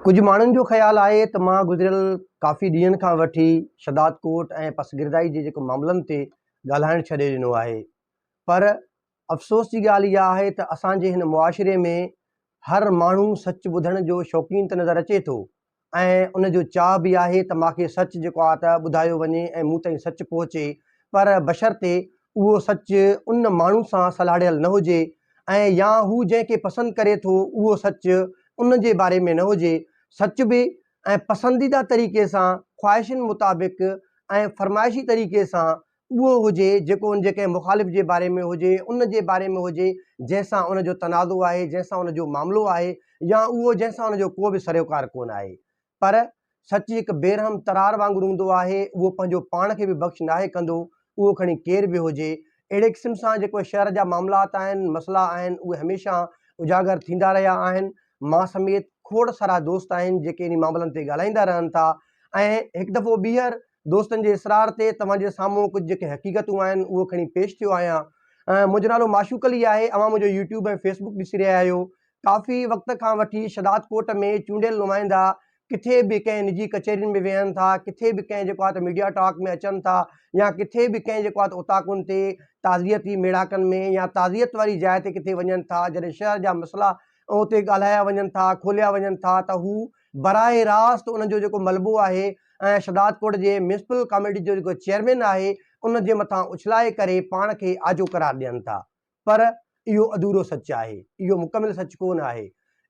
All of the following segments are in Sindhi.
ڪجهه ماڻهن جو خيال آهي ته مان گذريل ڪافي ڏينهن کان وٺي شداد ڪوٽ ۽ پسگردائي جي جيڪي معاملن تي ڳالهائڻ ڇڏي ڏنو آهي پر افسوس جي ڳالهه اها آهي ته اسان جي هن معاشري ۾ هر ماڻهو سچ ٻڌڻ جو شوقين ته نظر اچي ٿو ۽ ان جو چاهه به آهي ته ماکي سچ جيڪو آهي ته ٻڌايو وڃي ۽ مون تائين سچ پهچي پر بشرطي اهو سچ ان ماڻهو سان سلهاڙيل نه هجي ۽ يا هو جنهن کي پسند ڪري ٿو اهو سچ ان جي باري ۾ نه هجي، سچ به ۽ پسنديده طريقي سان خواهشن مطابق ۽ فرمائشي طريقي سان اهو هجي جيڪو ان جي ڪنهن مخالف جي باري ۾ هجي، ان جي باري ۾ هجي جنهن سان ان جو تنازعو آهي، جنهن سان ان جو معاملو آهي يا اهو جنهن سان ان جو ڪو به سروڪار ڪونه آهي. پر سچ هڪ بيرحم ترار وانگر هوندو آهي، اهو پنهنجو پاڻ کي به بخش ناهي ڪندو، اهو کڻي ڪير به هجي. اهڙي قسم سان جيڪي شهر جا معاملات آهن، مسئلا آهن، اهي هميشه اجاگر ٿيندا رهيا آهن. مان سميت کوڙ سارا دوست آهن، جيڪي انهي معاملن تي ڳالهائيندا رهن ٿا ۽ هڪ دفعو ٻيهر دوستن جي اصرار تي توهان جي سامهون ڪجهه جيڪي حقيقتون آهن، اهو کڻي پيش ٿيو آهيان. منهنجو نالو معشوق علي آهي، اوهان منهنجو يوٽيوب ۽ فيسبوڪ ڏسي رهيا آهيو، ڪافي وقت کان وٺي شھدادڪوٽ ۾ چونڊيل نمائندا ڪٿي به ڪنھن نجي ڪچهرين ۾ ويھن ٿا، ڪٿي به ڪنھن جيڪو آھي ته ميڊيا ٽاڪ ۾ اچن ٿا يا ڪٿي به ڪنھن جيڪو آھي ته اوطاقن تي تعزيتي ميڙاڪن ۾ يا تعزيت واري جاء تي ڪٿي وڃن ٿا جڏھن شھر جا مسئلا اتي ڳالھايا وڃن ٿا کوليا وڃن ٿا ته ھو براھ راست انھن جو جيڪو ملبو آھي ۽ شھدادڪوٽ جي ميونسپل ڪاميٽي جو جيڪو چيئرمين آھي ان جي مٿان اڇلائي ڪري پاڻ کي آجو قرار ڏين ٿا. پر اهو اڌورو سچ آهي، اهو مڪمل سچ ڪونه آهي.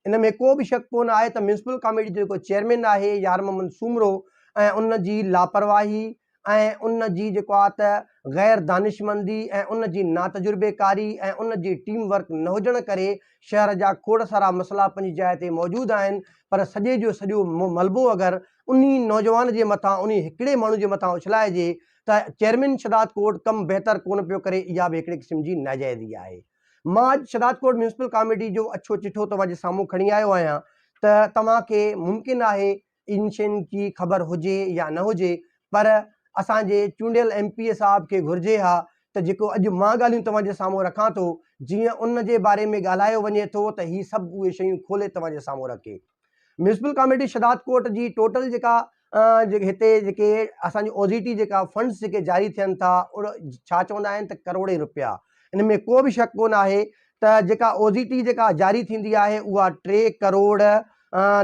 ان ۾ ڪو به شڪ ڪونه آهي ته ميونسپل ڪاميٽي جو جيڪو چيئرمين آهي يارمحمد سومرو ۽ ان جي لاپرواهي ۽ ان جي جيڪو آهي ته غير دانشمندي ۽ ان جي ناتجربيڪاري ۽ ان جي ٽيم ورڪ نه هجڻ ڪري شهر جا کوڙ سارا مسئلا پنهنجي جاء تي موجود آهن پر سڄي جو سڄو ملبو اگر انهي نوجوان جي مٿان انهي هڪڙي ماڻهو جي مٿان اڇلائجي ته چيئرمين شھداد ڪورٽ ڪم بهتر ڪونه پيو ڪري اها به هڪڙي قسم جي ناجائزي آهي مان اڄ شھداد ڪورٽ ميونسپل ڪاميٽي جو اڇو چٺو توهان جي سامهون کڻي آيو آهيان ته توهان کي ممڪن آهي ان شين جي خبر هجي يا نه هجي پر اسان جي چونڊيل ايم پي اي صاحب کي گهرجي ها ته جيڪو اڄ مان ڳالهيون توهان جي سامهون رکان ٿو جيئن ان جي باري ۾ ڳالهايو وڃي ٿو ته هي سڀ اهي شيون کولي توهان جي سامهون رکي. ميونسپل ڪاميٽي شھدادڪوٽ جي ٽوٽل جيڪا جيڪي ھتي جيڪي اسان جي او زي ٽي جيڪا فنڊس جيڪي جاري ٿين ٿا اھڙو ڇا چوندا آھن ته ڪروڙين روپيا ان ۾ ڪو به شڪ ڪونه آھي ته جيڪا او زي ٽي جيڪا جاري ٿيندي آھي اھا ٽي ڪروڙ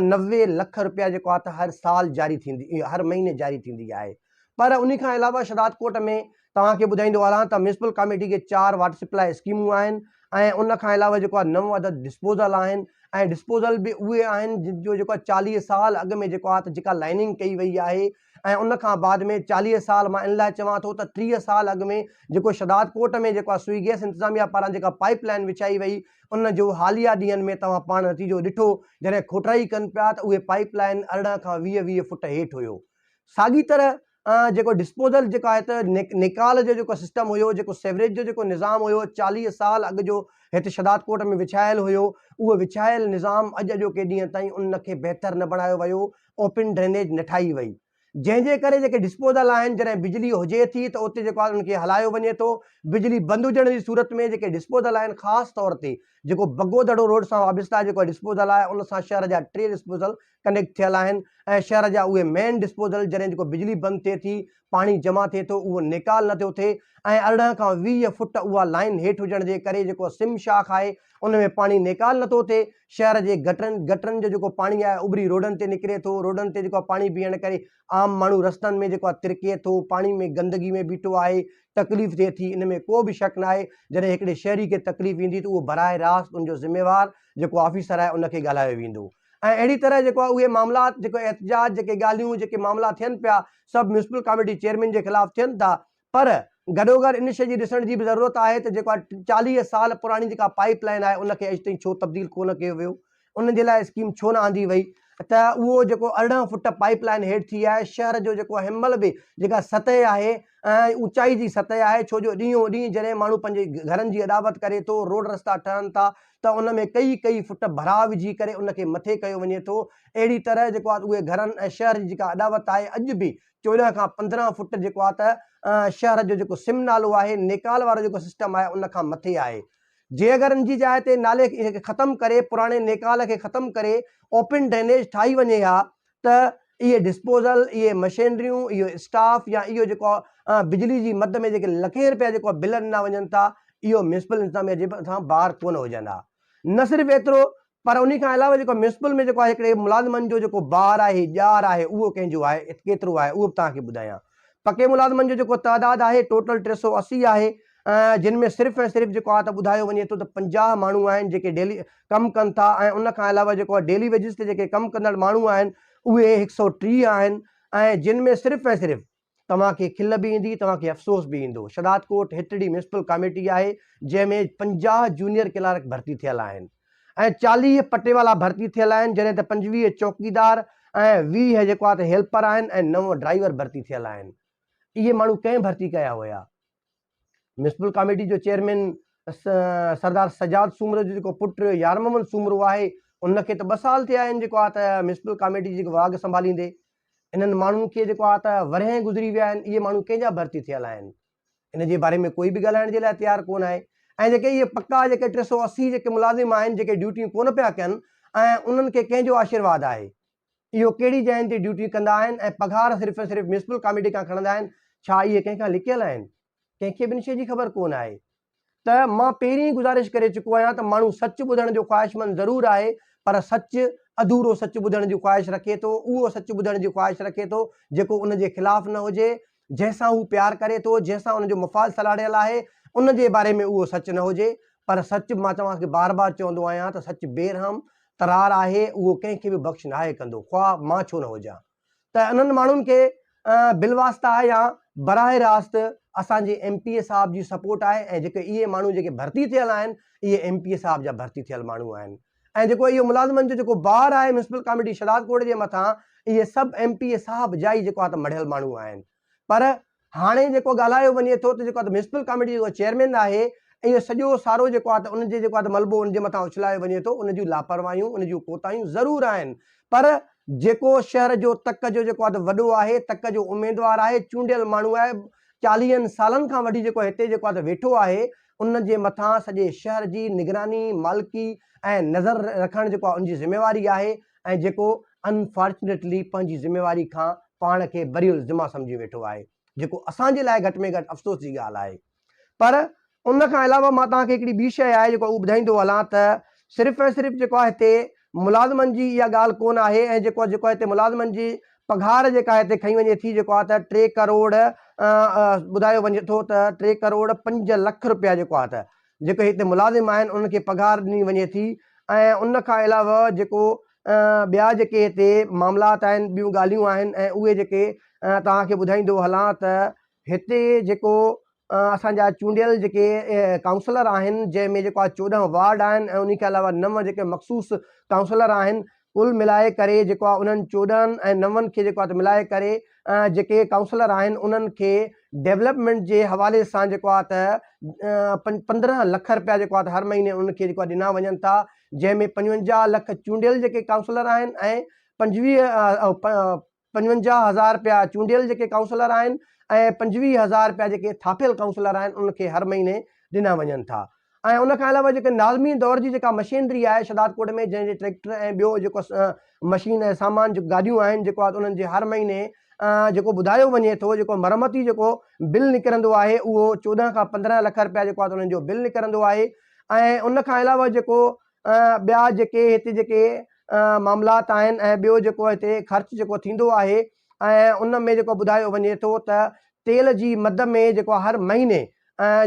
نوي لک روپيا جيڪو آھي ته ھر سال جاري ٿيندي ھر مھيني جاري ٿيندي آھي پر انهي کان علاوه شھدادڪوٽ ۾ توهان کي ٻڌائيندو هلان ته ميونسپل ڪاميٽي کي چار واٽر سپلاء اسڪيمون آهن ۽ ان کان علاوه جيڪو آهي نو عدد ڊسپوزل آهن ۽ ڊسپوزل به اهي آهن جن جو جيڪو آهي چاليهه سال اڳ ۾ جيڪو آهي ته جيڪا لائننگ ڪئي وئي آهي ۽ ان کان بعد ۾ چاليهه سال مان ان لاء چوان ٿو ته ٽيهه سال اڳ ۾ جيڪو شھدادڪوٽ ۾ جيڪو آهي سوئي گيس انتظاميه پاران جيڪا پائيپ لائين وڇائي وئي ان جو حاليه ڏينهن ۾ توهان پاڻ نتيجو ڏٺو جڏهن کوٽرائي ڪن پيا ته اهي پائيپ لائين ارڙهن کان ويهه ويهه فوٽ هيٺ هيو ساڳي طرح جيڪو ڊسپوزل جيڪا آهي ته نيڪال جو جيڪو سسٽم هيو جيڪو سيوريج جو جيڪو نظام هيو چاليهه سال اڳ جو هت شهدادڪوٽ ۾ وڇايل هيو اهو وڇايل نظام اڄ اڄوڪي ڏينهن تائين ان کي بهتر نه بڻايو ويو اوپن ڊرينيج نه ٺاهي وئي جنهن جي ڪري جيڪي ڊسپوزل آهن جڏهن بجلي هجي ٿي ته اتي جيڪو آهي ان کي هلايو وڃي ٿو بجلي بند هجڻ جي صورت ۾ جيڪي ڊسپوزل آهن خاص طور تي جيڪو بگو دڙو روڊ سان وابسته جيڪو ڊسپوزل آهي ان سان شهر جا ٽي ڊسپوزل ڪنيڪٽ ٿيل آهن ۽ شهر جا اهي مين ڊسپوزل جڏهن جيڪو بجلي بند ٿئي ٿي پاڻي جمع ٿئي ٿو اهو نيڪال نه ٿيو ٿئي ۽ ارڙهن کان ويهه فوٽ اها لائين هيٺ هجڻ جي ڪري جيڪو سم شاخ آهي ان ۾ پاڻي نيڪال نه ٿو ٿئي شهر جي گٽرن گٽرن جو جيڪو پاڻي آهي اڀري روڊن تي نڪري ٿو روڊن تي جيڪو پاڻي بيهڻ ڪري عام ماڻهو رستن ۾ جيڪو ترڪي ٿو پاڻي ۾ گندگي ۾ بيٺو آهي تڪليف ٿئي ٿي ان ۾ ڪو به شڪ نه آهي جڏهن هڪڙي شهري کي تڪليف ايندي ته اهو براه راست ان جو ذميوار جيڪو آفيسر آهي ان کي ڳالهايو ويندو ۽ اهڙي طرح جيڪو آهي اهي معاملات جيڪو احتجاج جيڪي ڳالهيون جيڪي معاملا ٿين پيا سڀ ميونسپل ڪاميٽي چيئرمين جي خلاف ٿين ٿا پر گڏوگڏ ان شئي جي ڏسڻ جي به ضرورت آهي ته جيڪو آهي چاليهه سال پراڻي جيڪا پائيپ لائين آهي ان کي اڄ تائين ڇو تبديل ڪونه ڪيو ويو ان جي لاء اسڪيم ڇو نه آندي وئي ته اهو جيڪو ارڙهن فٽ پائيپ لائين هيٺ ٿي آهي شهر جو جيڪو هينمهل به جيڪا سطح آهي ۽ اوچائي جي سطح آهي ڇو جو ڏينهون ڏينهن جڏهن ماڻهو پنهنجي گهرن جي اڏاوت ڪري ٿو، روڊ رستا ٺهن ٿا ته ان ۾ ڪيئي ڪيئي فٽ ڀراء وجهي ڪري ان کي مٿي ڪيو وڃي ٿو اهڙي طرح جيڪو آهي اهي گهرن ۽ شهر جي جيڪا اڏاوت آهي اڄ به چوڏهن کان پندرهن فٽ جيڪو آهي ته شهر جو جيڪو سم نالو آهي نيڪال وارو جيڪو سسٽم آهي ان کان مٿي آهي جي اگر ان جي جاء تي نالي کي ختم ڪري پراڻي نيڪال کي ختم ڪري اوپن ڊرينيج ٺاهي وڃي ها ته اهي ڊسپوزل، اهي مشينريون، اهو اسٽاف يا اهو جيڪو بجلي جي مد ۾ جيڪي لکين رپيا جيڪو بل ڏنا وڃن ٿا اهو ميونسپل انتظاميا جي مٿان بار ڪونه هجن ها. نه صرف ايترو پر انهي کان علاوه جيڪو ميونسپل ۾ جيڪو هڪڙي ملازمن جو جيڪو بار آهي، ڄار آهي اهو ڪنهن جو آهي، ڪيترو آهي اهو به توهان کي ٻڌايان. پڪي ملازمن جو جيڪو تعداد آهي ٽوٽل ٽي سؤ اسي آهي جن ۾ صرف ۽ صرف جيڪو آ ته ٻڌايو وڃي ٿو ته پنجاهه ماڻهو آهن جيڪي ڊيلي ڪم ڪن ٿا ۽ ان کان علاوه جيڪو آ ڊيلي ويجز تي جيڪي ڪم ڪندڙ ماڻهو آهن اهي هڪ سئو ٽيهه آهن ۽ جن ۾ صرف ۽ صرف توهان کي کل به ايندي توهان کي افسوس به ايندو شهداد ڪوٽ هٽڙي ميونسپل ڪاميٽي آهي جنهن ۾ پنجاهه جونيئر ڪلارڪ ڀرتي ٿيل آهن ۽ چاليهه پٽيوالا ڀرتي ٿيل آهن جڏهن ته پنجويهه چوڪيدار ۽ ويهه جيڪو آ ته هيلپر آهن ۽ نو ڊرائيور ڀرتي ٿيل آهن اهي ماڻهو ڪنهن ڀرتي ڪيا هيا ميونسپل ڪاميٽي جو چيئرمين سردار سجاد سومرو جو جيڪو پٽ يار محمد سومرو آهي ان کي ته ٻه سال ٿيا آهن جيڪو آهي ته ميونسپل ڪاميٽي جي واڳ سنڀاليندي انهن ماڻهن کي جيڪو آهي ته ورهين گذري ويا آهن اهي ماڻهو ڪنهن جا ڀرتي ٿيل آهن ان جي باري ۾ ڪوئي به ڳالهائڻ جي لاء تيار ڪونه آهي ۽ جيڪي اهي پڪا جيڪي ٽي سؤ اسي جيڪي ملازم آهن جيڪي ڊيوٽيون ڪونه پيا ڪن ۽ انهن کي ڪنهن جو آشيرواد آهي اهو ڪهڙي جاين تي ڊيوٽي ڪندا آهن ۽ پگهار صرف ۽ صرف ميونسپل ڪاميٽي کان کڻندا آهن، ڇا اهي ڪنهن کان لڪيل آهن؟ ڪنهن کي به ان شيء جي خبر ڪونه آهي ته مان پهرين ئي گذارش ڪري چڪو آهيان ته ماڻهو سچ ٻڌڻ جو خواهشمند ضرور آهي پر سچ اڌورو سچ ٻڌڻ جي خواهش رکي ٿو، اهو سچ ٻڌڻ جي خواهش رکي ٿو جيڪو ان جي خلاف نه هجي جنهن سان هو پيار ڪري ٿو، جنهن سان ان جو مفاد سلهاڙيل آهي، ان جي باري ۾ اهو سچ نه هجي، پر سچ، مان توهان کي بار بار چوندو آهيان ته سچ بي رحم ترار آهي، اهو ڪنهن کي به بخش ناهي ڪندو، خواه مان ڇو نه هجان. ته انهن ماڻهن کي بالواسطه يا براهه راست اسان جي ايم پي اي صاحب جي سپورٽ آهي ۽ جيڪي اهي ماڻهو جيڪي ڀرتي ٿيل آهن، اهي ايم پي اي صاحب جا ڀرتي ٿيل ماڻهو آهن. ۽ جيڪو اهو ملازمن جو جيڪو بار آهي ميونسپل ڪاميٽي شهداد ڪوٽ جي مٿان اهي سڀ ايم پي اي صاحب جا ئي جيڪو آهي ته مڙهيل ماڻهو آهن پر هاڻي جيڪو ڳالهايو وڃي ٿو ته جيڪو آهي ته ميونسپل ڪاميٽي جو جيڪو چيئرمين آهي اهو سڄو سارو جيڪو آهي ته ان جي جيڪو آهي ته ملبو ان جي مٿان اڇلايو وڃي ٿو ان جون لاپرواهيون ان جون ڪوتاهيون ضرور آهن پر جيڪو شهر جو تڪ جو جيڪو آهي ته وڏو آهي تڪ جو اميدوار آهي چونڊيل ماڻهو آهي چاليهن سالن کان وٺي جيڪو هتي جيڪو آهي ته ويٺو آهي ان جي مٿان سڄي شهر جي نگراني، مالڪي ۽ نظر رکڻ جيڪو ان جي ذميواري آهي ۽ جيڪو Unfortunately پنهنجي ذميواري کان پاڻ کي بريء الذمه سمجهي ويٺو آهي جيڪو اسان جي لاء گهٽ ۾ گهٽ افسوس جي ڳالهه آهي پر ان کان علاوه مان توهان کي هڪڙي ٻي شيء آهي جيڪو اهو ٻڌائيندو هلان ته صرف ۽ صرف جيڪو آهي هتي ملازمن جي اها ڳالهه ڪونه آهي ۽ جيڪو جيڪو هتي ملازمن جي پگهار جيڪا هتي کنئي وڃي ٿي جيڪو آهي ته ٽي ڪروڙ ٻڌايو وڃي ٿو ته ٽي ڪروڙ پنج لک روپيا جيڪو آهي ته جيڪي هتي ملازم آهن انهن کي پگهار ڏني وڃي ٿي ۽ ان کان علاوه جيڪو ٻيا جيڪي هتي معاملات آهن ٻيون ڳالهيون آهن ۽ اهي جيڪي توهان کي ٻڌائيندو هلان ته هتي جيڪو اسان جا چونڊيل جيڪي ڪائونسلر آهن جنهن ۾ جيڪو آهي چوڏهن وارڊ آهن ۽ ان کان علاوه نو جيڪي مخصوص ڪائونسلر آهن ڪل ملائي ڪري جيڪو آهي انهن چوڏهن ۽ نون کي جيڪو آهي ملائي ڪري جيڪي ڪائونسلر آهن انهن کي ڊيولپمينٽ جي حوالي سان جيڪو آهي ته پندرهن لک رپيا جيڪو آهي هر مهيني انهن کي جيڪو آهي ڏنا وڃن ٿا جنهن ۾ پنجونجاهه لک چونڊيل جيڪي ڪائونسلر آهن ۽ پنجويهه پنجونجاهه هزار رپيا چونڊيل جيڪي ڪائونسلر آهن ۽ پنجويهه هزار رپيا جيڪي ٿاڦيل ڪائونسلر آهن انهن کي هر مهيني ڏنا وڃن ٿا ۽ ان کان علاوه جيڪي ناظمين دور جي جيڪا مشينري آهي شهدادڪوٽ ۾ جنهن جي ٽريڪٽر ۽ ٻيو جيڪو مشين ۽ سامان جيڪو گاڏيون آهن جيڪو آهي انهن جي هر مهيني جيڪو ٻڌايو وڃي ٿو جيڪو مرمتي جيڪو بل نڪرندو آهي اهو چوڏهن کان پندرهن لک رپيا جيڪو آهي انهن جو بل نڪرندو آهي ۽ ان کان علاوه جيڪو ٻيا جيڪي هتي جيڪي معاملات آهن ۽ ٻيو جيڪو هتي خرچ جيڪو ٿيندو آهي ۽ ان ۾ جيڪو ٻڌايو وڃي ٿو ته تيل جي مد ۾ جيڪو هر مهيني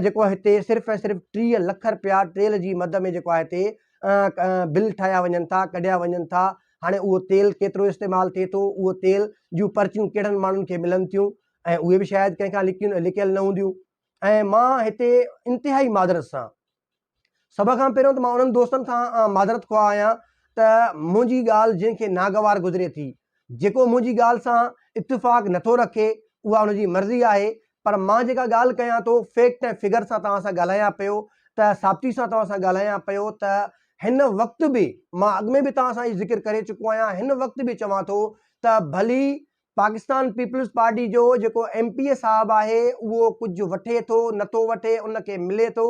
جيڪو هتي صرف ۽ صرف ٽيهه لک رپيا تيل جي مد ۾ جيڪو هتي بل ٺاهيا وڃن ٿا ڪڍيا وڃن ٿا هاڻي اهو تيل ڪيترو استعمال ٿئي ٿو اهو تيل جون پرچيون ڪهڙن ماڻهن کي ملن ٿيون ۽ اهي به شايد ڪنهن کان لکيون لکيل نه هونديون ۽ مان هتي انتهائي معذرت سان سڀ کان پهريون ته مان انهن دوستن کان معذرت خواهه آهيان ته منهنجي ڳالهه جنهن کي ناگوار گذري ٿي، جيڪو منهنجي ڳالهه سان اتفاق نٿو رکي، اها ان جي مرضي آهي، پر مان جيڪا ڳالهه ڪيان ٿو، فيڪٽ ۽ فگر سان توهان سان ڳالهايان پيو ته ثابتي سان توهان سان ڳالهايان پيو ته هن وقت به مان اڳ ۾ به توهان سان اهو ذڪر ڪري چڪو آهيان، هن وقت به چوان ٿو ته ڀلي پاڪستان پيپلز پارٽي جو جيڪو ايم پي اي صاحب آهي اهو ڪجهه وٺي ٿو نه ٿو وٺي ان کي ملي ٿو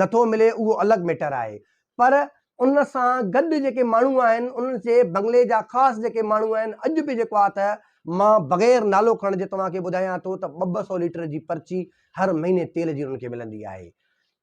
نه ٿو ملي اهو الڳ ميٽر آهي پر ان سان گڏ جيڪي ماڻهو آهن انهن کي بنگلي جا خاص جيڪي ماڻهو آهن اڄ به جيڪو آهي ته مان بغير نالو کڻڻ جي توهان کي ٻڌايان ٿو ته ٻه ٻه سئو ليٽر جي پرچي هر مهيني تيل جي انهن کي ملندي آهي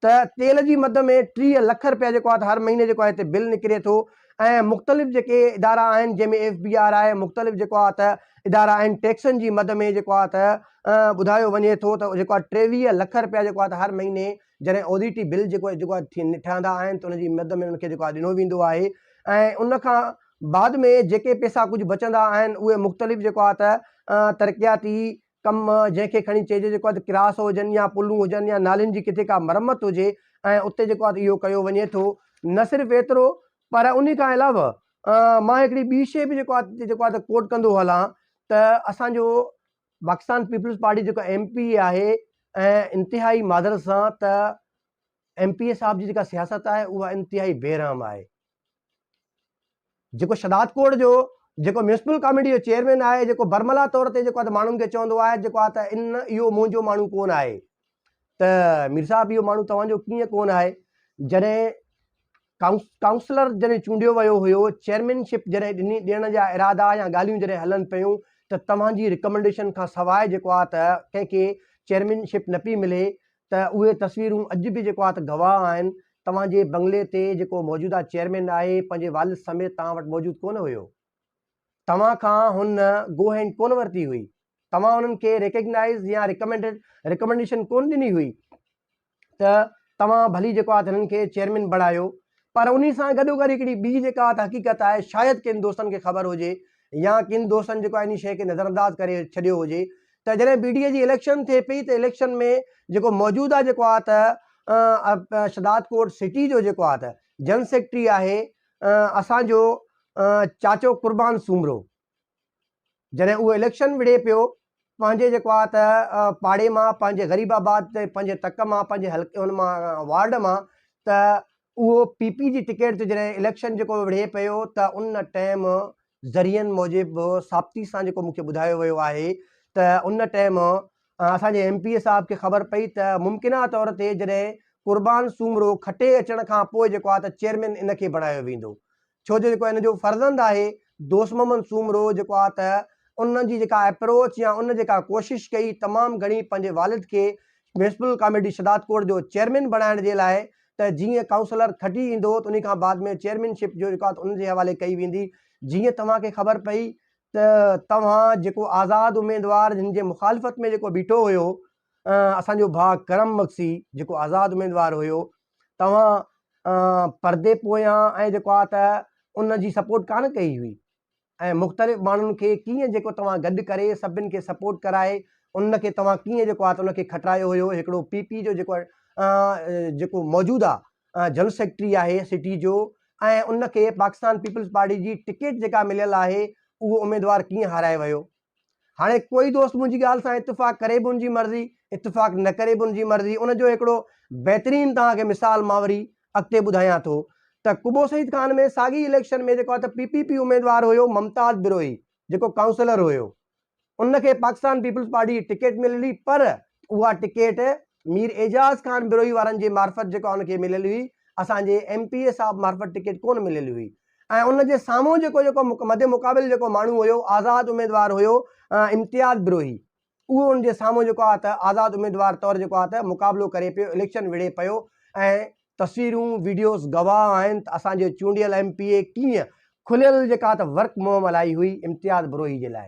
ته تيل جي مد ۾ ٽيهه لک رپيا جيڪو آهي ته هر مهيني جيڪو آهي ته بل نڪري ٿو ۽ مختلف جيڪي ادارا آهن جنهن ۾ ايف بي آر آهي مختلف جيڪو آهي ته ادارا آهن ٽيڪسن جي مد ۾ جيڪو آهي ته ٻڌايو وڃي ٿو ته جيڪو آهي ٽيويهه لک رپيا جيڪو آهي ته هر مهيني جڏهن اوديٽي بل جيڪو جيڪو آهي ٺهندا آهن ته ان جي مد ۾ ان کي جيڪو آهي ڏنو ويندو آهي ۽ ان کان بعد ۾ جيڪي پيسا ڪجهه بچندا آهن اهي مختلف جيڪو آهي ته ترقياتي ڪم، جنهن کي کڻي چئجي جيڪو اڌ ڪراس هجن يا پلون هجن يا نالين جي ڪٿي ڪا مرمت هجي ۽ اتي جيڪو اٿ اهو ڪيو وڃي ٿو. نه صرف ايترو پر انهي کان علاوه مان هڪڙي ٻي شيء به جيڪو اٿ جيڪو اٿ ڪوٽ ڪندو هلان ته اسان جو پاڪستان پيپلز پارٽي جيڪو ايم پي اي آهي ۽ انتهائي معذرت سان ته ايم پي اي صاحب جي جيڪا سياست آهي اها انتهائي بي رحم آهي. جيڪو شھدادڪوٽ جو جيڪو ميونسپل ڪاميٽي جو چيئرمين آهي جيڪو برملا طور تي جيڪو ماڻهن کي چوندو آهي جيڪو آ ته ان اهو منهنجو ماڻهو ڪون آهي ته مير صاحب اهو ماڻهو توهانجو ڪيئن ڪون آهي جڏهن ڪائونسلر جڏهن چونڊيو ويو هيو چيئرمين شپ جڏهن ڏني ڏيڻ جا ارادا يا ڳالهيون جڏهن هلن پيون ته توهانجي رڪمنڊيشن کان سواء جيڪو آ ته ڪنهن کي چيئرمين شپ نه پي ملي ته اهي تصويرون اڄ به جيڪو آ ته گواهه آهن، توهان جي بنگلي تي جيڪو موجوده چيئرمين آهي، پنهنجي والد سميت توهان وٽ موجود ڪونه هيو. توهان کان هن گو هينڊ ڪونه ورتي هئي. توهان انهن کي ريڪگنائيز يا ريڪمنڊيڊ ريڪمنڊيشن ڪونه ڏني هئي ته توهان ڀلي جيڪو آ ته هنن کي چيئرمين بڻايو. پر انهي سان گڏوگڏ هڪڙي ٻي جيڪا آ ته حقيقت آهي، شايد ڪن دوستن کي خبر هجي يا ڪن دوستن جيڪو آ انهي شيء کي نظرانداز ڪري ڇڏيو هجي ته جڏهن پي ٽي آء جي اليڪشن ٿئي پئي ته اليڪشن ۾ جيڪو موجوده جيڪو آ ته شھداد ڪوٽ سٽي جو جيڪو آ ته جن سيڪريٽري آھي اسان جو چاچو قربان سومرو جڏهن اھو اليڪشن وڙھي پيو پنھنجي جيڪو آ ته پاڙي مان پنھنجي غريب آباد تي پنھنجي تڪ مان پنھنجي حلقي ان مان وارڊ مان ته اھو پي پي جي ٽڪيٽ تي جڏهن اليڪشن جيڪو وڙھي پيو ته ان ٽيم ذريعن موجب سابتي سان جيڪو مونکي ٻڌايو ويو آهي ته ان ٽئم اسان جي ايم پي اي صاحب کي خبر پئي ته ممڪنه طور تي جڏهن قربان سومرو کٽي اچڻ کان پوء جيڪو آهي ته چيئرمين ان کي بڻايو ويندو ڇو جو جيڪو ان جو فرزند آهي دوست محمد سومرو جيڪو آهي ته ان جي جيڪا اپروچ يا ان جيڪا ڪوشش ڪئي تمام گهڻي پنهنجي والد کي ميونسپل ڪاميٽي شداد ڪوٽ جو چيئرمين بڻائڻ جي لاء ته جيئن ڪائونسلر کٽي ايندو ته انهي کان بعد ۾ چيئرمين شپ جو جيڪو آهي ان جي حوالي ڪئي ويندي جيئن توهان کي خبر پئي ته توهان جيڪو آزاد اميدوار جن جي مخالفت ۾ جيڪو بيٺو هيو اسان جو ڀاء ڪرم مگسي جيڪو آزاد اميدوار هيو توهان پردي پويان ۽ جيڪو آهي ته ان جي سپورٽ ڪانه ڪئي هئي ۽ مختلف ماڻهن کي ڪيئن جيڪو توهان گڏ ڪري سڀن کي سپورٽ ڪرائي ان کي توهان ڪيئن جيڪو آ ته ان کي کٽرايو هيو هڪڙو پي پي جو جيڪو جيڪو موجودا جنرل سيڪريٽري آهي سٽي جو ۽ ان کي پاڪستان پيپلز پارٽي جي ٽڪيٽ جيڪا مليل آهي اهو اميدوار ڪيئن هارائي ويو هاڻي ڪوئي دوست منهنجي ڳالهه سان اتفاق ڪري به ان جي مرضي، اتفاق نه ڪري به ان جي مرضي، ان جو هڪڙو بهترين توهان کي مثال مان وري اڳتي ٻڌايان ٿو ته قبو سعيد خان ۾ ساڳي اليڪشن ۾ جيڪو ته پي پي پي اميدوار هيو ممتاز بروهي جيڪو ڪائونسلر هيو ان کي پاڪستان پيپلز پارٽي جي ٽڪيٽ ملي پر اها ٽڪيٽ مير اعجاز خان بروهي وارن جي معرفت جيڪا ان کي مليل هئي اسان جي ايم پي اي صاحب معرفت ٽڪيٽ ڪونه مليل هئي ۽ ان جي سامهون جيڪو جيڪو مد مقابل جيڪو ماڻهو هيو آزاد اميدوار هيو امتياز بروهي اهو ان جي سامهون جيڪو آهي ته آزاد اميدوار طور جيڪو آهي ته مقابلو ڪري پيو اليڪشن وڙهي پيو ۽ تصويرون ويڊيوز گواهه آهن ته اسان جو چونڊيل ايم پي اي ڪيئن کليل جيڪا ته ورڪ مهم هلائي هئي امتياز بروهي جي لاء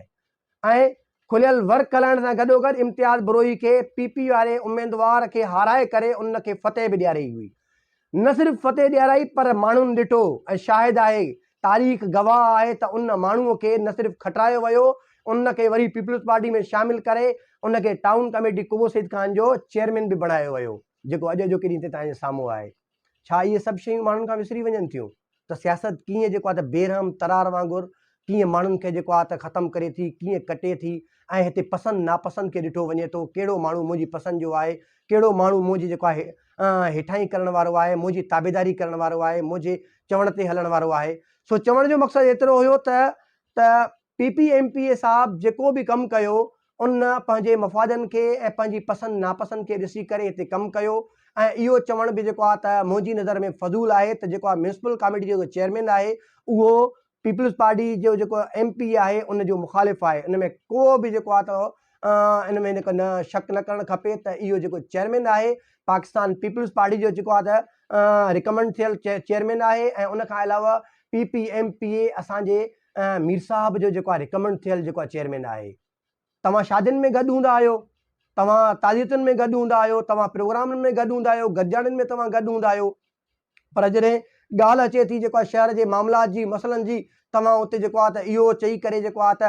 ۽ کليل ور کلائڻ سان گڏوگڏ امتياز بروهي کي پي پي واري اميدوار کي هارائي ڪري ان کي فتح به ڏياري هئي. نه صرف فتح ڏيارائي پر ماڻهن ڏٺو ۽ شاهد آهي، تاريخ گواهه آهي ته ان ماڻهوء کي نه صرف کٽرايو ويو، ان کي وري پيپلز پارٽي ۾ شامل ڪري ان کي ٽائون ڪميٽي قبو سيد خان جو چيئرمين به بڻايو ويو، جيڪو اڄ اڄوڪي ڏينهن تائين سامهون آهي. ڇا اهي سڀ شيون ماڻهن کان وسري وڃن ٿيون ته سياست ڪيئن جيڪو آهي ته بيرحم ترار وانگر ڪيئن ماڻهن کي جيڪو آهي ته ختم ڪري ٿي، ڪيئن ڪٽي ٿي ۽ هتي پسند ناپسند کي ڏٺو وڃي ٿو، ڪهڙو ماڻهو منهنجي پسند جو آهي، ڪهڙو ماڻهو منهنجي جيڪو آهي هيٺائين ڪرڻ وارو آهي، منهنجي تابعداري ڪرڻ وارو آهي، منهنجي چوڻ تي هلڻ وارو آهي. سو چوڻ جو مقصد ايترو هيو ته ته P P M P A صاحب جيڪو به ڪم ڪيو ان پنهنجي مفادن کي ۽ پنهنجي پسند ناپسند کي ڏسي ڪري هتي ڪم ڪيو ۽ اهو چوڻ به جيڪو آهي ته منهنجي نظر ۾ فضول آهي ته جيڪو آهي ميونسپل ڪاميٽي جو جيڪو چيئرمين آهي اهو پيپلز پارٽي جو جيڪو ايم پي اي آهي ان جو مخالف آهي ان ۾ ڪو به جيڪو آهي ته ان ۾ جيڪو نه شڪ نه ڪرڻ کپي ته اهو جيڪو چيئرمين آهي پاڪستان پيپلز پارٽي جو جيڪو آهي ته رڪمنڊ ٿيل چيئرمين آهي ۽ ان کان علاوه P P M P A اسانجي مير صاحب جو جيڪو آ رڪمنڊ ٿيل جيڪو آ چيئرمين آهي توهان شادين ۾ گڏ هوندا آهيو توهان تعزيتن ۾ گڏ هوندا آهيو توهان پروگرامن ۾ گڏ هوندا آهيو گڏجاڻين ۾ توهان گڏ هوندا آهيو پر جڏهن ڳالهه اچي ٿي جيڪو آ شهر جي معاملات جي مسئلن جي توهان اتي جيڪو آ ته اهو چئي ڪري جيڪو آ ته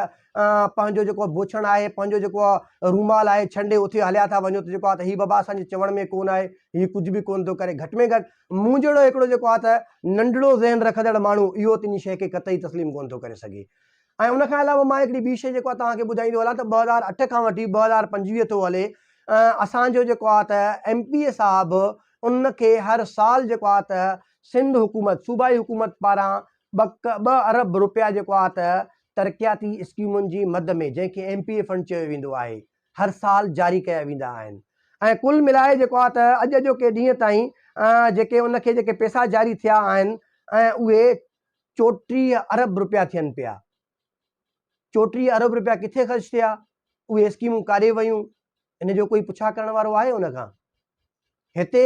پنهنجو جيڪو بوڇڻ آهي پنهنجو جيڪو آ رومال آهي ڇنڊي اتي هليا ٿا وڃو ته جيڪو آ ته هي بابا اسان جي چوڻ ۾ ڪون آهي هي ڪجهه به ڪون ٿو ڪري گهٽ ۾ گهٽ مون جهڙو هڪڙو جيڪو آ ته ننڍڙو ذهن رکندڙ ماڻهو اهو تنهن شيء کي قطعي تسليم ڪونه ٿو ڪري سگهي. ۽ ان کان علاوه مان هڪڙي ٻي شيء جيڪو آ توهان کي ٻڌائيندو هلان ته ٻه هزار اٺ کان وٺي ٻه هزار پنجويهه ٿو هلي اسان جو جيڪو آ ته ايم پي اي صاحب ان کي هر سال جيڪو آ ته سنڌ حڪومت صوبائي حڪومت پاران ٻه ارب روپيا جيڪو آ ته ترقياتي اسڪيمن جي مد ۾ جنهن کي ايم پي اي فنڊ چيو ويندو آهي. هر سال جاري ڪيا ويندا آهن ۽ ڪل ملائي جيڪو آهي ته اڄ اڄوڪي ڏينهن تائين جيڪي ان کي جيڪي پئسا جاري ٿيا آهن ۽ اهي چوٽيهه ارب روپيا ٿين پيا. چوٽيهه ارب روپيا ڪٿي خرچ ٿيا؟ اهي اسڪيمون ڪاڏي ويون؟ ان جو ڪوئي پڇا ڪرڻ وارو آهي ان کان؟ هتي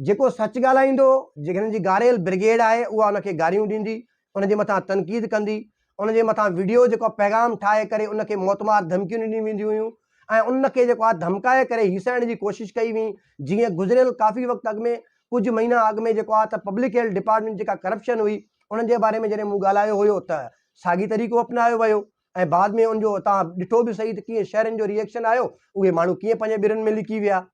جيڪو سچ ڳالهائيندو، جيڪي هن جي گاريل برگيڊ آهي اها ان کي گاريون ڏيندي، ان جي مٿان تنقيد ڪندي، ان جي مٿان وڊيو جيڪو پيغام ٺاهي ڪري ان کي موت مار ڌمڪيون ڏنيون وينديون هيون ۽ ان کي جيڪو آهي ڌمڪائي ڪري هيسائڻ جي ڪوشش ڪئي وئي جيئن گذريل ڪافي وقت اڳ ۾ ڪجهه مهينا اڳ ۾ جيڪو آهي ته پبلڪ هيلٿ ڊپارٽمينٽ جيڪا ڪرپشن هئي ان جي باري ۾ جڏهن مون ڳالهايو هيو ته ساڳي طريقو اپنايو ويو ۽ بعد ۾ ان جو تان ڏٺو به صحيح ته ڪيئن شهرين جو ريئڪشن آيو اهي ماڻهو ڪيئن پنهنجي ٻرن ۾ لڪي ويا.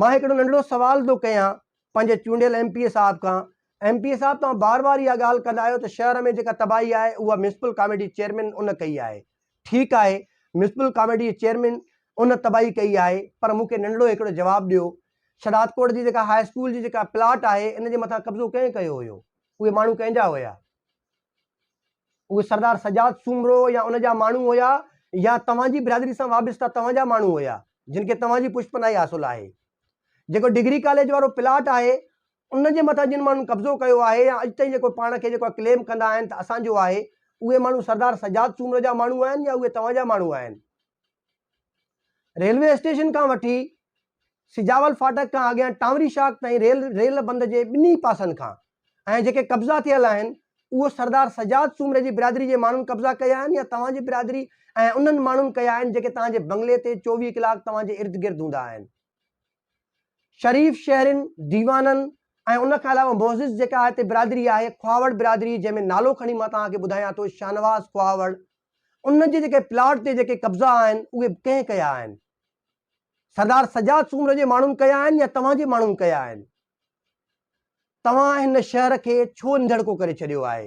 مان هڪڙو ننڍڙو سوال ٿو ڪيان پنهنجي چونڊيل ايم پي اي صاحب کان، ايم پي اي صاحب توهان بار بار اها ڳالهه ڪندا آهيو ته شهر ۾ جيڪا تباهي آهي اها ميونسپل ڪاميٽي چيئرمين ان ڪئي آهي، ٺيڪ آهي ميونسپل ڪاميٽي جي چيئرمين ان تباهي ڪئي آهي پر مون کي ننڍڙو هڪڙو جواب ڏيو شھدادڪوٽ جي جيڪا هاء اسڪول جي جيڪا پلاٽ آهي ان جي مٿان قبضو ڪنهن ڪيو هيو اهي ماڻهو ڪنهن جا هيا؟ اهي سردار سجاد سومرو يا ان جا ماڻهو هيا يا توهان جي برادري سان وابسته توهان جا ماڻهو هيا جن کي توهان جي پشپناهي حاصل آهي جيڪو ڊگري ڪاليج وارو پلاٽ آهي ان جي مٿان جن ماڻهن قبضو ڪيو آهي يا اڄ تائين جيڪو پاڻ کي جيڪو ڪليم ڪندا آهن ته اسان جو آهي اهي ماڻهو سردار سجاد سومرو جا ماڻهو آهن يا اهي توهان جا ماڻهو آهن ريلوي اسٽيشن کان وٺي سجاول فاٽڪ کان اڳيان ٽانوري شاخ تائين ريل ريل بند جي ٻنهي پاسن کان ۽ جيڪي قبضا ٿيل آهن اهو سردار سجاد سومري جي برادري جي ماڻهن قبضا ڪيا آهن يا توهان جي برادري ۽ انهن ماڻهن ڪيا آهن جيڪي توهان جي بنگلي تي چوويهه ڪلاڪ توهان جي ارد گرد هوندا آهن. شريف شهرين، ديوانن ۽ ان کان علاوه معزز جيڪا هتي برادري آهي خواهوڙ برادري جنهن ۾ نالو کڻي مان توهان کي ٻڌايان ٿو شاهنواز خواهوڙ ان جي جيڪي پلاٽ تي جيڪي قبضا آهن اهي ڪنهن ڪيا آهن؟ سردار سجاد سومرو جي ماڻهن ڪيا آهن يا توهان جي ماڻهن ڪيا آهن؟ توهان هن شهر کي ڇو انڌيڙڪو ڪري ڇڏيو آهي؟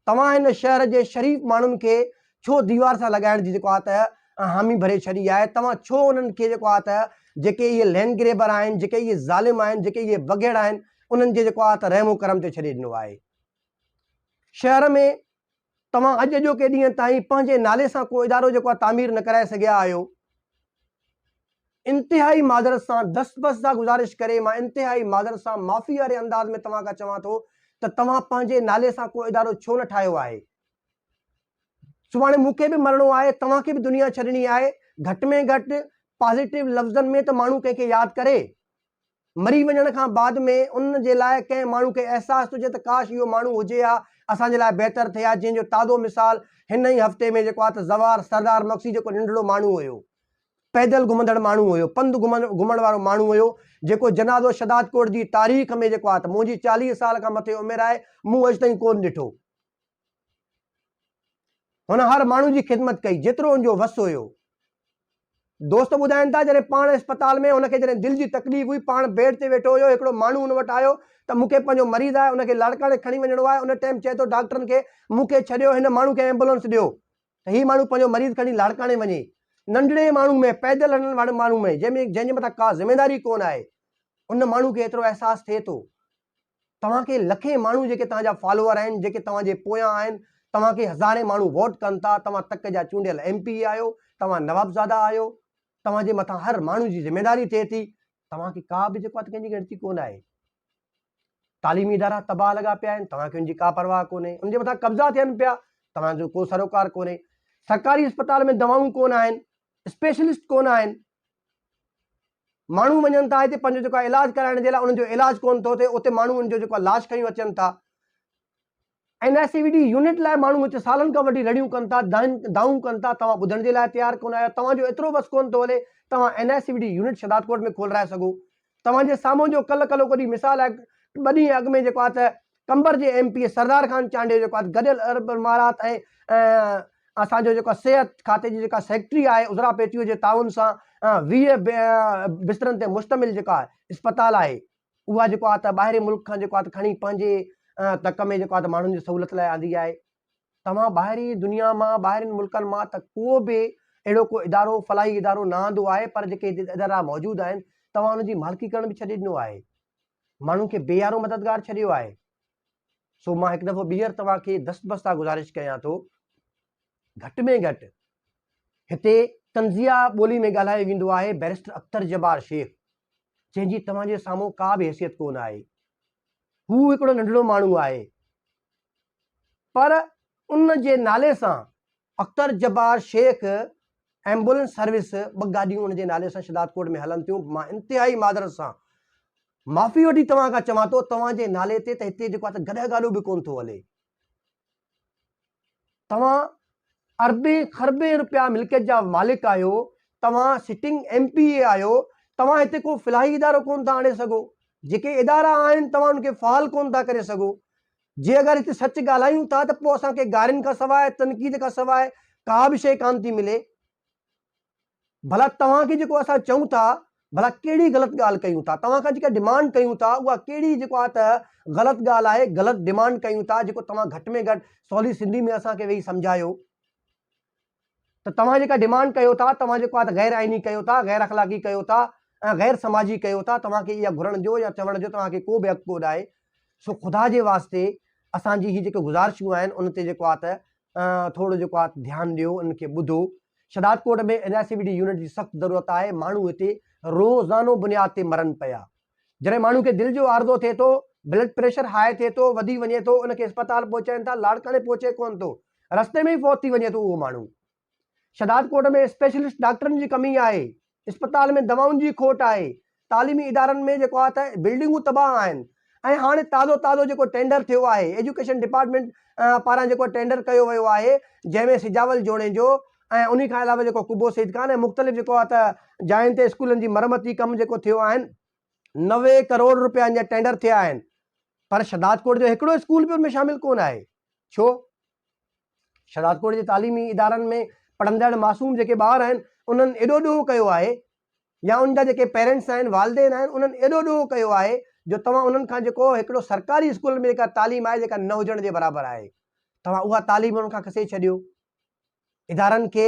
توهان هن شهر جي شريف ماڻهن کي ڇو ديوار سان لڳائڻ جي جيڪو آ ته حامي ڀري ڇڏي آهي؟ توهان ڇو انهن کي جيڪو آ ته جيڪي اهي لينڊ گريبر آهن، جيڪي اهي ظالم آهن، جيڪي اهي بگهڙ آهن، انهن جي جيڪو آ ته رحم و ڪرم تي ڇڏي ڏنو آهي؟ شهر ۾ توهان اڄ اڄوڪي ڏينهن تائين پنهنجي نالي سان ڪو ادارو جيڪو آهي تعمير نه ڪرائي سگهيا آهيو. انتهائي معذرت سان دست بست سان گذارش ڪري مان انتهائي معذرت سان معافي واري انداز ۾ توهان کان چوان ٿو ته توهان پنهنجي نالي سان ڪو ادارو ڇو نه ٺاهيو آهي. سڀاڻي مون کي به مرڻو آهي توهان کي به دنيا ڇڏڻي آهي گهٽ ۾ گهٽ پازيٽو لفظن ۾ ته ماڻهو ڪنهن کي ياد ڪري. مري وڃڻ کان بعد ۾ ان جي لاء ڪنهن ماڻهو کي احساس ٿو ٿئي ته ڪاش اهو ماڻهو هجي ها اسان جي لاء بهتر ٿئي ها جنهن جو تازو مثال هن ئي هفتي ۾ جيڪو آهي ته زوار سردار مگسي جيڪو ننڍڙو ماڻهو هيو پيدل گهمندڙ ماڻهو هيو پنڌ گهمڻ وارو ماڻهو هيو جيڪو جنازو شھدادڪوٽ جي تاريخ ۾ جيڪو آهي ته منهنجي چاليهه سال کان مٿي عمر آهي مون اڄ تائين ڪون ڏٺو هن هر ماڻهو جي خدمت ڪئي، جيترو هن جو وس هيو. دوست ٻڌائين ٿا، جڏهن پاڻ اسپتال ۾ هن کي جڏهن دل جي تڪليف هئي، پاڻ بيڊ تي ويٺو هيو، هڪڙو ماڻهو هن وٽ آيو ته مون کي پنهنجو مريض آهي، ان کي لاڙڪاڻي کڻي وڃڻو آهي، ان ٽيم چئي ٿو ڊاڪٽرن کي، مون کي ڇڏيو، هن ماڻهو کي ايمبولنس ڏيو ته هي ماڻهو پنهنجو مريض کڻي لاڙڪاڻي وڃي. ننڍڙي ماڻهو ۾، پيدل هلڻ واري ماڻهو ۾، جنهن جي مٿان ڪا ذميواري ڪونه آهي، ان ماڻهو کي ايترو احساس ٿئي ٿو. توهان کي لکين ماڻهو جيڪي توهان جا فالوور آهن جيڪي توهان جي پويان آهن توهان کي هزارين ماڻهو ووٽ ڪن ٿا توهان تڪ جا چونڊيل ايم پي اي آهيو توهان نوابزادا آهيو توهان جي مٿان هر ماڻهو جي ذميداري ٿئي ٿي توهان کي ڪا به جيڪو ڪنهن جي ڳڻتي ڪونه آهي تعليمي ادارا تباهه لڳا پيا آهن توهان کي ان جي ڪا پرواهه ڪونهي ان جي مٿان قبضا ٿين پيا توهان جو ڪو سروڪار ڪونهي سرڪاري اسپتال ۾ دوائون ڪون آهن اسپيشلسٽ ڪون آهن ماڻهو وڃن ٿا هتي پنهنجو جيڪو علاج ڪرائڻ جي لاء انهن جو علاج ڪونه ٿو ٿئي اتي ماڻهو ان جو جيڪو لاش کيون اچن ٿا N I C V D unit لاء ماڻهو هتي سالن کان وٺي رڙيون ڪن ٿا دائون ڪن ٿا توهان ٻڌڻ جي لاء تيار ڪونه آهيو توهان جو ايترو بس ڪونه ٿو هلي توهان N I C V D unit Shahdadkot ۾ کولرائي سگهو توهان جي سامهون جو ڪل ڪلو ڪوڏي مثال آهي. ٻه ڏينهن اڳ ۾ جيڪو آهي ته قمبر جي M P A Sardar Khan Chandio جيڪو آهي ته گڏيل عرب امارات ۽ اسان جو جيڪو صحت کاتي جي جيڪا سيڪريٽري آهي عذرا پيٽيو جي تعاون سان ويهه بسترن تي مشتمل جيڪا آهي اسپتال آهي اها جيڪو آهي ته ٻاهرين ملڪ کان جيڪو آهي ته کڻي پنهنجي تڪ ۾ جيڪو آهي ته ماڻهن جي سهولت لاء آندي آهي. توهان ٻاهرين دنيا مان ٻاهرين ملڪن مان ته ڪو به اهڙو ڪو ادارو فلاحي ادارو نه آندو آهي پر جيڪي ادارا موجود آهن توهان ان جي مالڪي ڪرڻ به ڇڏي ڏنو آهي ماڻهن کي بي يارو مددگار ڇڏيو آهي سو مان هڪ دفعو ٻيهر توهان کي دست بستا گزارش ڪيان ٿو گهٽ ۾ گهٽ هتي تنزيا ٻولي ۾ ڳالهايو ويندو آهي بيرسٽر اختر جبار شيخ جنهن جي توهان جي سامهون ڪا به حيثيت ڪونه آهي هو هڪڙو ننڍڙو ماڻهو آهي پر ان جي نالي سان اختر جبار شيخ ايمبولنس سروس ٻه گاڏيون ان جي نالي سان شداد ڪورٽ ۾ هلن ٿيون مان انتهائي معذرت سان معافي وٺي توهان کان چوان ٿو توهان جي نالي تي ته هتي جيڪو آهي گڏهه گاڏو به ڪون ٿو هلي توهان اربين خربين روپيا ملڪيت جا مالڪ آهيو توهان سٽنگ ايم پي اي آهيو توهان هتي ڪو فلاحي ادارو ڪون ٿا آڻي سگهو جيڪي ادارا آهن توهان ان کي فعال ڪون ٿا ڪري سگهو جي اگر هتي سچ ڳالهايون ٿا ته پوء اسان کي گارين کان سواء تنقيد کان سواء ڪا به شيء ڪانه ٿي ملي. ڀلا توهان کي جيڪو اسان چئون ٿا ڀلا ڪهڙي غلط ڳالهه ڪيون ٿا؟ توهان کان جيڪا ڊمانڊ ڪيون ٿا اها ڪهڙي جيڪو آهي ته غلط ڳالهه آهي، غلط ڊمانڊ ڪيون ٿا جيڪو توهان گهٽ ۾ گهٽ سولي سنڌي ۾ اسان کي ويهي سمجهايو. ته توهان جيڪا ڊيمانڊ ڪيو ٿا، توهان جيڪو آهي ته غير آئيني ڪيو ٿا، غير اخلاقي ڪيو ٿا ۽ غير سماجي ڪيو ٿا، توهان کي اها گهرڻ جو يا چوڻ جو توهان کي ڪو به حق ڪو نه آهي، سو خدا جي واسطي اسان جي هي جيڪي گذارشون آهن ان تي جيڪو آهي ته ٿورو جيڪو آهي ڌيان ڏيو، انهن کي ٻڌو. Shahdad Kot ۾ N I C V D unit جي سخت ضرورت آهي، ماڻهو هتي روزانو بنياد تي مرن پيا. جڏهن ماڻهو کي دل جو عارضو ٿئي ٿو، بلڊ پريشر هاء ٿئي ٿو، وڌي وڃي ٿو، ان کي اسپتال پهچائين ٿا، لاڙڪاڻي پهچي ڪونه ٿو، رستي ۾ ئي فوت ٿي وڃي ٿو اهو ماڻهو. شهداد ڪوٽ ۾ اسپيشلسٽ ڊاڪٽرن جي ڪمي آهي، اسپتال ۾ دوائن جي کوٽ آهي، تعليمي ادارن ۾ جيڪو آهي ته بلڊنگون تباهه آهن ۽ هاڻي تازو تازو جيڪو ٽينڊر ٿيو آهي ايجوڪيشن ڊپارٽمينٽ پاران جيڪو ٽينڊر ڪيو ويو آهي جنهن ۾ سجاول جوڻيجو، ۽ انهي کان علاوه جيڪو قبو سيد خان ۽ مختلف جيڪو آ ته جاين تي اسڪولن جي مرمتي ڪم جيڪو ٿيو آهن نوي ڪروڙ روپين جا ٽينڊر ٿيا آهن پر شھدادڪوٽ جو هڪڙو اسڪول به ان ۾ شامل ڪونه آهي ڇو شھدادڪوٽ جي تعليمي ادارن ۾ پڙهندڙ معصوم جيڪي ٻار آهن انهن ايڏو ڏوهه ڪيو آهي يا ان جا جيڪي پيرنٽس آهن والدين آهن انهن ايڏو ڏوهه ڪيو آهي جو توهان انهن کان جيڪو هڪڙو سرڪاري اسڪولن ۾ جيڪا تعليم آهي جيڪا نه هجڻ جي برابر آهي توهان اها تعليم انهن کان کسي ڇڏيو ادارن کي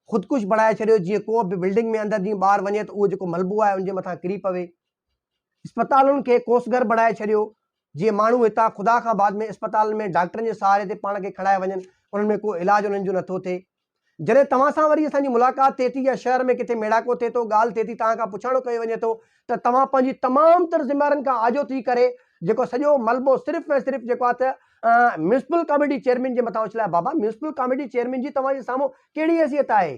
خودڪش بڻائي ڇڏيو جيئن ڪو به بلڊنگ ۾ اندر جيئن ٻاهر وڃي ته اهو جيڪو ملبو آهي ان جي مٿان ڪري پوي. اسپتالن کي ڪوسگر بڻائي ڇڏيو جيئن ماڻهو هتان خدا کان بعد ۾ اسپتالن ۾ ڊاڪٽرن جي سهاري تي پاڻ کي کڻائي وڃن انهن ۾ ڪو علاج انهن جو نٿو ٿئي. جڏهن توهان سان وري اسان جي ملاقات ٿئي ٿي يا شهر ۾ ڪٿي ميڙاڪو ٿئي ٿو ڳالهه ٿئي ٿي توهان کان پڇاڻو ڪيو وڃي ٿو ته توهان پنهنجي تمام تر ذميوارين کان آجو ٿي ڪري جيڪو سڄو ملبو صرف ۽ صرف جيڪو آهي ته ميونسپل ڪاميٽي چيئرمين جي مٿان اڇلايو بابا ميونسپل ڪاميٽي چيئرمين جي توهان جي سامهون ڪهڙي حيثيت آهي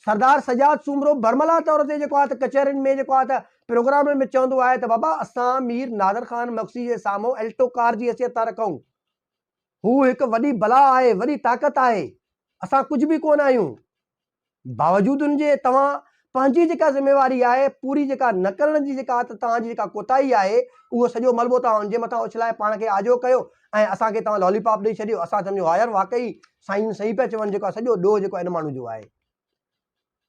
سردار سجاد سومرو برملا طور تي جيڪو آهي ته ڪچهرين ۾ جيڪو آهي ته پروگرامن ۾ چوندو آهي ته بابا اسان مير نادر خان مگسي جي سامهون الٽو ڪار جي حيثيت ٿا رکون هو هڪ وڏي بلا آهي وڏي طاقت آهي اسان ڪجهه به ڪونه آهيون باوجود ان جي توهان پنهنجي جيڪا ذميواري آهي پوري جيڪا نه ڪرڻ جي جيڪا ته توهان جي جيڪا ڪوتاهي آهي اهو سڄو ملبو توهان ان جي مٿان اڇلائي پاڻ کي آجو ڪيو ۽ اسان کي توهان لالي پاپ ڏئي ڇڏيو اسان سمجهيو ها يار واقعي سائين جن صحيح پيا چون جيڪو آهي سڄو ڏوهه جيڪو آهي ان ماڻهو جو آهي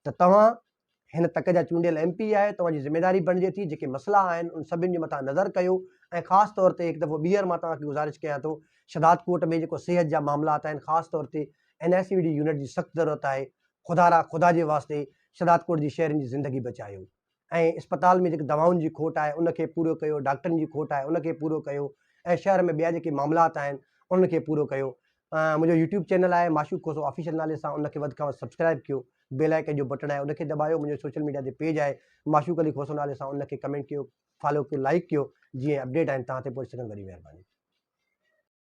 ته توهان هن تڪ جا چونڊيل ايم پي آهي توهان جي ذميواري بڻجي ٿي جيڪي مسئلا آهن ان سڀن جي مٿان نظر ڪيو ۽ خاص طور تي هڪ دفعو ٻيهر مان توهان کي گذارش ڪيان ٿو شهداد ڪوٽ ۾ جيڪو صحت جا معاملات آهن خاص طور تي N S A D unit جي سخت ضرورت آهي، خدارا خدا جي واسطي شھدادڪوٽ جي شھرين جي زندگي بچايو ۽ اسپتال ۾ جيڪي دوائن جي کوٽ آهي ان کي پورو ڪيو، ڊاڪٽرن جي کوٽ آهي ان کي پورو ڪيو ۽ شھر ۾ ٻيا جيڪي معاملات آهن انھن کي پورو ڪيو. منھنجو يوٽيوب چينل آهي معشوق کوسو آفيشل نالي سان ان کي وڌ کان وڌ سبسڪرائب ڪيو، بيل آئيڪن جو بٽڻ آهي ان کي دٻايو، منھنجو سوشل ميڊيا تي پيج آهي معشوق علي کوسو نالي سان ان کي ڪمينٽ ڪيو، فالو ڪيو، لائيڪ ڪيو جيئن اپڊيٽ آهن توھان تائين پهچي سگهن وڏي مھرباني.